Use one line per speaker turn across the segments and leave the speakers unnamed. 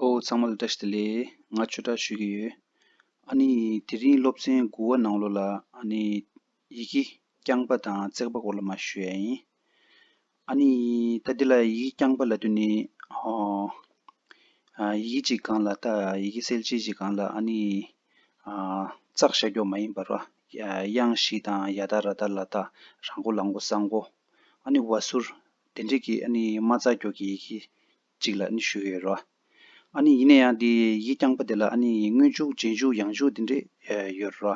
ཨོ་ཚང་མ་ལ་བཀྲ་ཤིས་བདེ་ལེགས། ང་ཆོས་གྲྭར་ཞུས་ཀྱི་ཡོད། ཨ་ནི་དེ་རིང་སློབ་ཚན་དགུ་བ་ནང་ལོ་ལ་ཨ་ནི་ཡི་གེ་རྐྱང་པ་དང་བརྩེགས་པ་སྐོར་ལ་མ་ཞུས་ཡ་ཡིན། ཨ་ནི་ད་འདི་ལ་ཡི་གེ་རྐྱང་པ་ལ་དུས་ནི་ཧོ། ཡི་གེ་གཅིག་གང་ལ་ད་ཡི་གེ་གསལ་བྱེད་གཅིག་གང་ལ་ཨ་ནི། བཙགས་བཞག་རྒྱོགས་མ་ཡིན་པར། དབྱངས་བཞི་དང་ཡ་ད་ར་ད་ལ་ད་ར་མགོ་ལ་མགོ་ས་མགོ། ཨཱ་ནི་བ་སུར། དེ་འབྲེལ་གྱི་ཨཱ་ནི་མ་རྩ་སྒྱུར་གྱི་ཡི་གེ་གཅིག་ལ་ཨཱ་ནི་ཞུ་ཡོད་རོ། ཨཱ་ནི་ཡིན་ན་ཡང་དེ་ཡིག་རྐྱང་པ་དེ་ལ་ཨཱ་ནི་སྔོན་འཇུག་རྗེས་འཇུག་ཡང་འཇུག་དེ་འདྲས་ཡོད་རོ།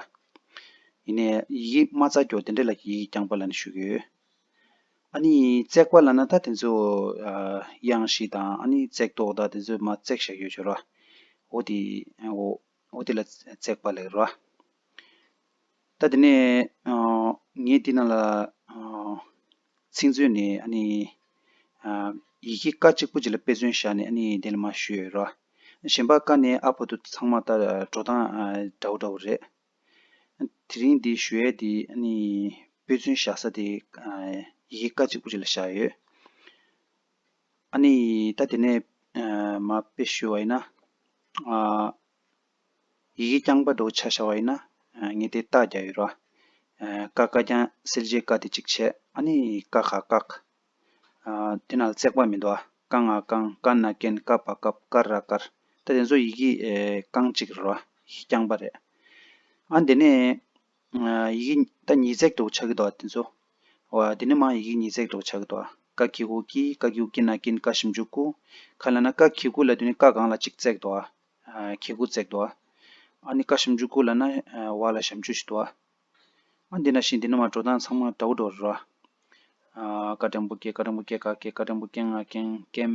ཡིན་ནས་ཡི་གེ་མ་རྩ་སྒྱུར་དེ་འདྲས་ལ་གྱི་ཡིག་རྐྱང་པ་ལ་ནི་ཞུ་གི་ཡོད། ཨཱ་ནི་བརྩེགས་པ་ལ་ན་ད་དེ་ཚོ་དབྱངས་བཞི་དང་ཨཱ་ནི་བརྩེགས་མདོག་ད་དེ་ཚོ་མ་བརྩེགས་བཞག་ཡོད་ཆོས་རོ། འོ་དེ་འོ། ཨོ་དེ་ལ་བརྩེགས་པ་ལས་རོ། ད་དེ་ནས་ངས་འདི་རྣམས་ལ་ཚིག་མཛོད་ནས་ཡི་གེ་ཀ་གཅིག་པུ་གཅིག་ལ་དཔེ་མཚོན་བཞག་ནས་དེ་ལ་མ་ཞུས་རོ། གཞན་པ་ཀ་ནས་ཨ་བྷོ་དུ་ཚང་མ་ལྟར་འགྲོ་སྟངས་འདྲ་བོ་འདྲ་བོ་རེད། དེ་རིང་འདི་ཞུ་ཡས་དེ་དཔེ་མཚོན་བཞག་ས་དེ་ཡི་གེ་ཀ་གཅིག་པུ་གཅིག་ལ་བཞག་ཡོད། ཨ་ནི་ད་དེ་ནས་མ་དཔེ་ཞུ་བ་ཡིན་ན། ཡི་གེ་རྐྱང་པ་འགྲོ་བྱ་བྱ་བ་ཡིན་ན། ངས་དེ་བལྟ་རྒྱ་ཡོད་ར། ཀ་ཀ་རྐྱང་སེལ་རྗེས་བཀག་དེ་གཅིག་བྱས་ཨ་ནི་ཀ་ཁ་བཀག། དེ་ནལ་བརྩེགས་པ་མི་འདུག་ཨ་ཀ་ང་ཀང་ཀ་ན་ཀན་ཀ་པ་ཀབ་ཀར་ར་ཀར་ད་དེ་ཚོ་ཡི་གེ་རྐང་གཅིག་རེད་ར་ཡི་གེ་རྐྱང་པ་རེད། ཨ་དེ་ནས་ཡི་གེ་ད་ཉིས་བརྩེགས་འདུག་ཆགས་ཀྱི་འདུག་དེ་ཚོ། འོ་འདི་ནི་མང་ཡི་གེ་ཉིས་བརྩེགས་འདུག་ཆགས་ཀྱི་འདུག་ཀ་ཁྱི་གུ་ཀྱི་ཀ་ཁྱི་ཀྱི་ན་ཀིན་ཀ་ཞིམ་ཅུ་ཀུ། ཁ་ལ་ན་ཀ་ཁྱི་གུ་ལ་དུས་ནི་ཀ་གང་ལ་གཅིག་བརྩེགས་འདུག་ཁྱི་གུ་བརྩེགས་འདུག་ཨ་ནི་ཀ་ཞིམ་ཅུ་ཀུ་ལ་ན་བ་ལ་ཞམ་ཅུ་ཞིག་འདུག་ཨ་འདི་འདྲ་ཞིག་འདི་ནི་མ་འགྲོ་སྟངས་ཚང་མ་འདྲ་བོ་འགྲོ་རོ། ཀ་ཀྲེང་པུ་ཀེ་ཀ་ཀྲེང་པུ་ཀེ་ཀ་ཀེ་ཀ་ཀྲེང་པུ་ཀེང་ང་ཀེང་ཀེམ།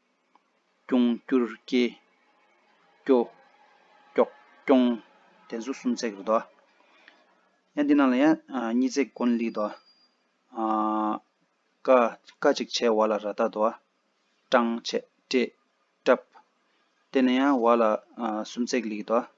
སྐྱོང། བསྐྱུར། སྐྱེ། སྐྱོ། སྐྱོག། སྐྱོང། དེ་ཚོ་སུམ་བརྩེགས་རེད་དོ། ཡང་འདི་རྣམས་ལ་ཡང་གཉིས་བརྩེགས་དཀོན་ལིགས་དོ། ཀ། ཀ་ཅིག་བྱས་བ་ལ་ར་བཏགས་དོ། སྐྲངས། བྱས། བཀྲེས། བཀྲབས། དེ་ནས་ཡང་བ་ལ་སུམ་བརྩེགས་ལིགས་དོ།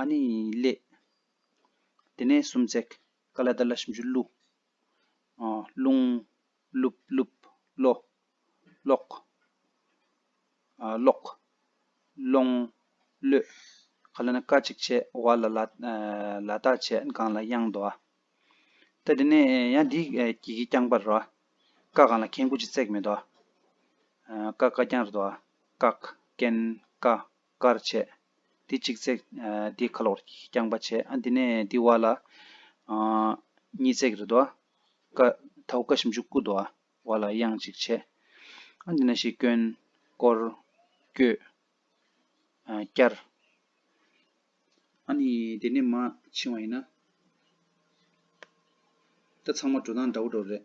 ཨ་ནི་ལས། དེ་ནས་སུམ་བརྩེགས་ཀ་ལ་དར་ལ་ཞིམ་ཆུ་བླུག། རླུང། ལུབ་ལུབ། ལོ། ལོག། ལོག། ལོང། ལོད། ཁ་ལ་ན་ཀ་གཅིག་བྱས་བ་ལ་ལ། ལ་དག་བྱས་དགང་ལ་དབྱངས་དོ་ཨ། ད་དེ་ནས་ཡང་འདི་གྱི་གི་རྐྱང་པར་རོ་ཨ། ཀ་གང་ལ་གན་ཀུ་ཅི་བརྩེགས་མེད་དོ་ཨ། ཀ་ཀ་རྐྱང་རེད་དོ་ཨ། ཀག། ཀན། ཀ། དཀར་བྱས། དེ་གཅིག་བརྩེགས། དེ་ཁ་ལོག་རྐྱང་པ་བྱས། དེ་ནས་དེ་བ་ལ། གཉིས་བརྩེགས་རེ་དོ། ཀ། ད་ཧུ་ཀ་ཞིམ་ཆུ་སྐུ་དོ། བ་ལ་དབྱངས་གཅིག་བྱས། དེ་ནས་ཤིག་བསྐྱོན། བསྐོར། བསྐྱོད། བསྐྱར། ཨཱ་ནི། དེ་ནས་མ་ཕྱིན་བ་ཡིན་ན། ད་ཚང་མ་འགྲོ་སྟངས་འདྲ་བོ་འགྲོ་རེད།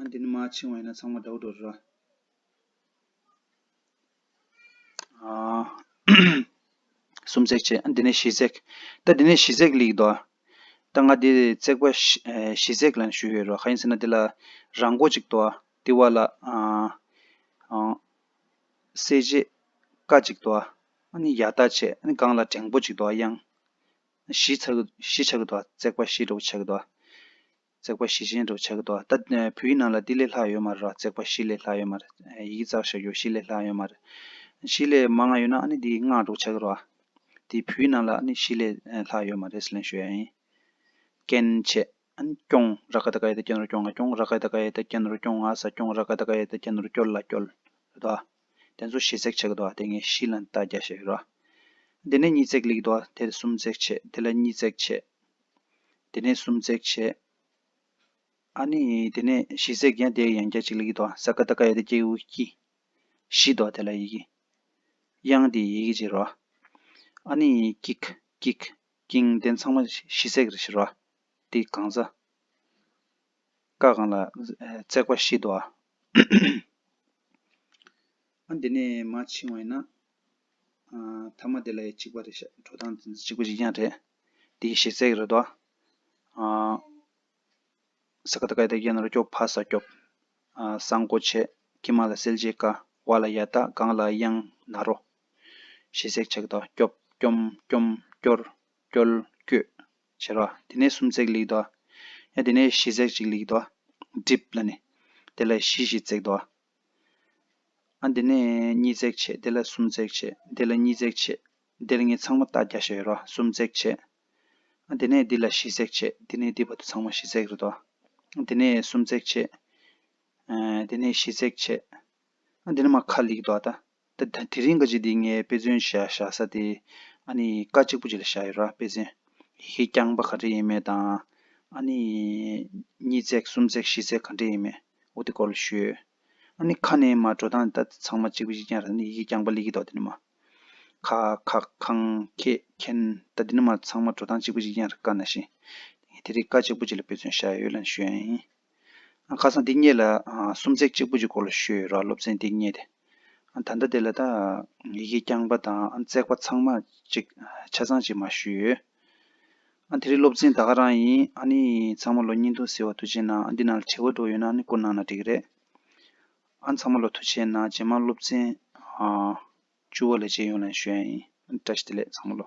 ཨ་འདི་ནི་མ་ཕྱིང་བ་ཡིན་ན་ཚང་མ་འདྲ་བོ་འགྲོ་རེད་ར། ཨ། སུམ་བརྩེགས་བྱས་ཨ་འདི་ནི་བཞི་བརྩེགས། ད་འདི་ནི་བཞི་བརྩེགས་ལིག་འདོ། ད་ང་འདི་བརྩེགས་པ་བཞི་བརྩེགས་ལ་ནི་ཞུས་ཡོད་ར་ག་ཡིན་ཟེར་ན་འདི་ལ་རང་མགོ་ཅིག་འདོ། དེ་བ་ལ་ཨ། གསལ་བྱེད་ཀ་ཅིག་འདོ། ཨ་ནི་ཡ་ད་བྱས་ཨ་ནི་སྒང་ལ་འགྲེང་པོ་ཅིག་འདོ་དབྱངས། བཞི་བྱ་གི་འདོ་བརྩེགས་པ་བཞི་འདྲ་བོ་བྱ་གི་འདོ། བརྩེགས་པ་བཞི་ཅན་དུ་བྱ་གི་འདུག་ད་བུའི་ནང་ལ་འདི་ལས་ལྷག་ཡོད་མ་རེད་རོ་བརྩེགས་པ་བཞི་ལས་ལྷག་ཡོད་མ་རེད་ཡི་གེ་བཙག་ཞབས་ཡོད་བཞི་ལས་ལྷག་ཡོད་མ་རེད། བཞི་ལས་མ་ང་ཡོད་ན་ཨ་ནི་འདི་སྔགས་དྲུག་བྱ་གི་རོ། འདི་བུའི་ནང་ལ་ཨ་ནི་བཞི་ལས་ལྷག་ཡོད་མ་རེད་ཟེར་ལན་ཞུ་ཡ་ཡིན། སྐྱེ་མཆེད་ཨ་ནི་སྐྱོང་ར་ཀ་ད་ཀ་ཡེ་ད་སྐྱེ་ནོར་སྐྱོང་ང་སྐྱོང་ར་ཀ་ད་ཀ་ཡེ་ད་སྐྱེ་ནོར་སྐྱོང་ང་ས་སྐྱོང་ར་ཀ་ད་ཀ་ཡེ་ད་སྐྱེ་ནོར་སྐྱོར་ལ་སྐྱོལ་རེད་དོ། དེ་ཚོ་བཞི་བརྩེགས་བྱ་གི་འདུག་དེ་ངས་བཞི་ལ་ལྟ་རྒྱ་བྱེད་ཀྱི་རོ། དེ་ནས་གཉིས་བརྩེགས་ལེགས་གི་འདུག་དེར་གསུམ་བརྩེགས་བྱེད་དེ་ལ་གཉིས་བརྩེགས་བྱེད། དེ་ནས་སུམ་བརྩེགས་བྱས། ཨ་ནི། དེ་ནས་བཞི་བརྩེགས་ཀྱང་དེའི་ཡང་བརྒྱ་གཅིག་ལ་ཡིག་དོ། ས་ཀ་ཏ་ཀ་ཡ་ཏི་ཀེའུ་ཀི། བཞི་དོ་དེ་ལ་ཡི་གི། དབྱངས་དེའི་ཡི་གེ་བཞིར་རོ། ཨ་ནི། ཀིག། ཀིག། ཀིང་དེ་ཚང་མ་བཞི་བརྩེགས་རེ་བཞིར་རོ། དེའི་གང་ས། ཀ་གང་ལ། བརྩེགས་པ་བཞི་དོ། ཨ་འདི་ནས་མ་འཆིང་བ་ཡིན་ན། ཐ་མ་དེ་ལ་ཡང་གཅིག་པ་རེད་ཤག་གི་འགྲོ་སྟངས་གཅིག་པ་ཞིག་ཀྱང་རེད། དེ་ཡི་ཞེ་སའི་རེད་དོ། ས་ཀ་ད་ཀའི་ད་ཀྱི་ན་རོ་སྐྱོབ་ཕ་ས་སྐྱོབ། ས་མགོ་བྱས་ཀྱི་མ་ལ་སེལ་བྱེད་དཀའ་བ་ལ་ཡ་ད་གང་ལ་གཡང་ན་རོ། ཞེ་སའི་ཆ་གི་ད་སྐྱོབ་སྐྱོམ་སྐྱོམ་སྐྱོར་སྐྱོལ་བསྐྱོད། བྱེད་རོ། དེ་ནས་སུམ་བརྩེགས་ལེགས་དོ། ཡང་དེ་ནས་བཞི་བརྩེགས་གཅིག་ལེགས་དོ། སྒྲིབ་ལ་ནི། དེ་ལ་བཞི་བཞི་བརྩེགས་དོ། ཨ། འདི་ནས་གཉིས་བརྩེགས་ཕྱེད་དེ་ལ་གསུམ་བརྩེགས་ཕྱེད་དེ་ལ་གཉིས་བརྩེགས་ཕྱེད་དེ་ལ་ངས་ཚང་མ་རྟགས་བརྒྱ་བཤད་ཡོད་རོ་གསུམ་བརྩེགས་ཕྱེད་ཨ། དེ་ནས་འདི་ལ་བཞི་བརྩེགས་ཕྱེད་འདི་ནས་འདི་བར་དུ་ཚང་མ་བཞི་བརྩེགས་རེད་དོ། དེ་ནས་གསུམ་བརྩེགས་ཕྱེད། དེ་ནས་བཞི་བརྩེགས་ཕྱེད། འདི་ནི་མ་ཁ་ལིག་རེད་དོ་ཨ། དེ་རིང་ཀ་ཅིག་འདི་ངའི་དཔེ་མཚོན་བཞག་བཞག་ས་དེ། ཨ་ནི་ཀ་གཅིག་པོ་ཅིག་ལ་བཞག་ཡོད་ར་དཔེ་མཚོན། ཡི་གེ་རྐྱང་པ་ག་འདྲ་ཡིན་མེད་དང། ཨ་ནི། གཉིས་བརྩེགས་གསུམ་བརྩེགས་བཞི་བརྩེགས་ག་འདྲ་ཡིན་མེད་འོ་དེ་སྐོར་ལ་ཞུས་ཡོད། ཨ་ནི་ཁ་ནས་མ་འགྲོ་སྟངས་དེ་ལྟ་ཚང་མ་གཅིག་པོ་གཅིག་རྐྱང་ར་ནི་ཡི་གེ་རྐྱང་པ་ལི་གི་འདོག་དེ་ནི་མ། ཁ། ཁག། ཁང། ཁྱེད། ཁྱེན། ད་དེ་ནི་མ་ཚང་མ་འགྲོ་སྟངས་གཅིག་པོ་གཅིག་རྐྱང་ར་ཀ་ན་ཤི། ངས་དེ་རིང་ཀ་གཅིག་པོ་ཅིག་ལ་དཔེ་མཚོན་བཞག་ཡོད་ལ་ནི་ཞུས་ཡང་ཡིན། ཁ་སང་འདི་སྙེད་ལ་སུམ་བརྩེགས་གཅིག་པུ་ཀྱི་སྐོར་ལ་ཤོད་ཡོད་རོགས་སློབ་ཚན་འདི་སྙེད་དེ། ད་ལྟ་དེ་ལ་ད་ཡི་གེ་རྐྱང་པ་དང་བརྩེགས་པ་ཚང་མ་ཅིག་ཆ་ཚང་ཅིག་མ་ཞུས་ཡོད། དེ་རིང་སློབ་ཚན་ད་ག་རང་ཡིན་ཨ་ནི་ཚང་མ་ལོ་གཉིས་འདུག་ཟེར་བ་དུ་བྱས་ན་འདི་ནང་ལ་བྲེལ་བ་འགྲོ་ཡོད་ན་ཨ་ནི་བསྐུར་གནང་ན་འགྲིག་གི་རེད། ཨ་ཚང་མ་ལོ་དུ་བྱས་ན་ཇེ་མང་སློབ་ཚན་བཅུ་བ་ལས་བྱེད་ཡོངས་ལ་ཡང་ཤོད་ཡ་ཡིན་བཀྲ་ཤིས་བདེ་ལེགས་ཚང་མ་ལོ།